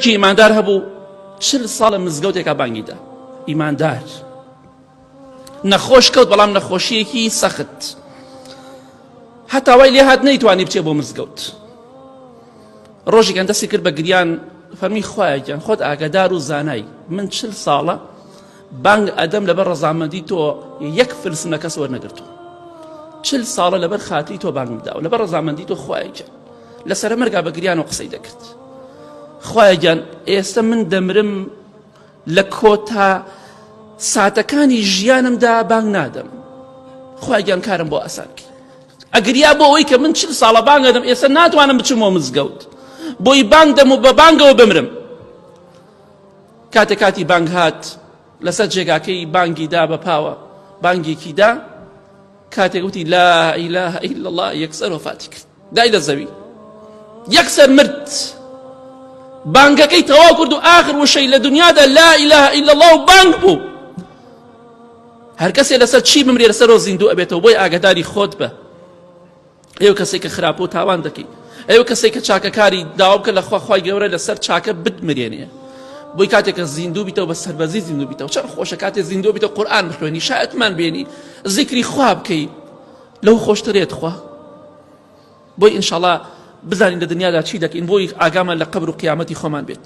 کی ئیماندار هەبوو چل ساڵە مزگەوتێکا بانگی دا ئیماندار نەخۆش کەوت بەڵام نەخۆشیەکی سەخت هەتاوای لێ هات نەیتوانی بچێ بۆ مزگەوت ڕۆژێکیان دەستی کرد بە گریان فەرمی خوایەکیان خۆت ئاگادار و زانای من چل ساڵە بانگ ئەدەم لەبەر ڕەزامەندی تۆ یەک فلس نەکەس وەرنەگرتووە چل ساڵە لەبەر خاتری تۆ بانگم داوە لەبەر ڕەزامەندی تۆ خوایەکە لەسرە مەرگا بە گریان و قسەی دەکرد خوایەگیان ئێستا من دەمرم لە کۆتا ساتەکانی ژیانمدا بانگ نادەم خوایگیان کارم بۆ ئاسان کرد ئەگریا بۆ ئەوەی کە من چل ساڵە بانگەدەم ئێستا ناتوانم بچمەوە مزگەوت بۆی بانگ دەم و بە بانگەوە بمرم کاتێ کاتی بانگ هات لەسەر جێگاکەی بانگی دا بە پاوە بانگێکی دا کاتێک وتی لا ئیلا ئیلا الله یەکسەر وفاتی کرد دای لە زەوی یەکسەر مرد بانگەکەی تەواو کرد و ئاخر وشەی لە دنیادا لا ئیلا ئیلا الله و بانگ بوو هەر کەسێ لەسەر چی بمرێ لەسەرەوە زیندوو ئەبێتەوە بۆی ئاگداری خۆت بە ئێو کەسێک کە خراپ و تاوان دەکەی ئێو کەسێک کە چاکەکاری داوا بکە لە خواخوای گەورە لەسەر چاکە بتمرێنێ بۆی کاتێکە زیندوو بیتەوە بە سەربەزی زیندوو بیتەوە چەند خۆشە کاتێ زیندوو بیتە قورآان بخوێنی شایەتمان بێنی زیکری خوا بکەی لەو خۆشترێت خوا بۆی ئینشاالله بزانین لە دنیادا چی دەکەین بۆی ئاگامان لە قبر و قیامەتی خۆمان بێت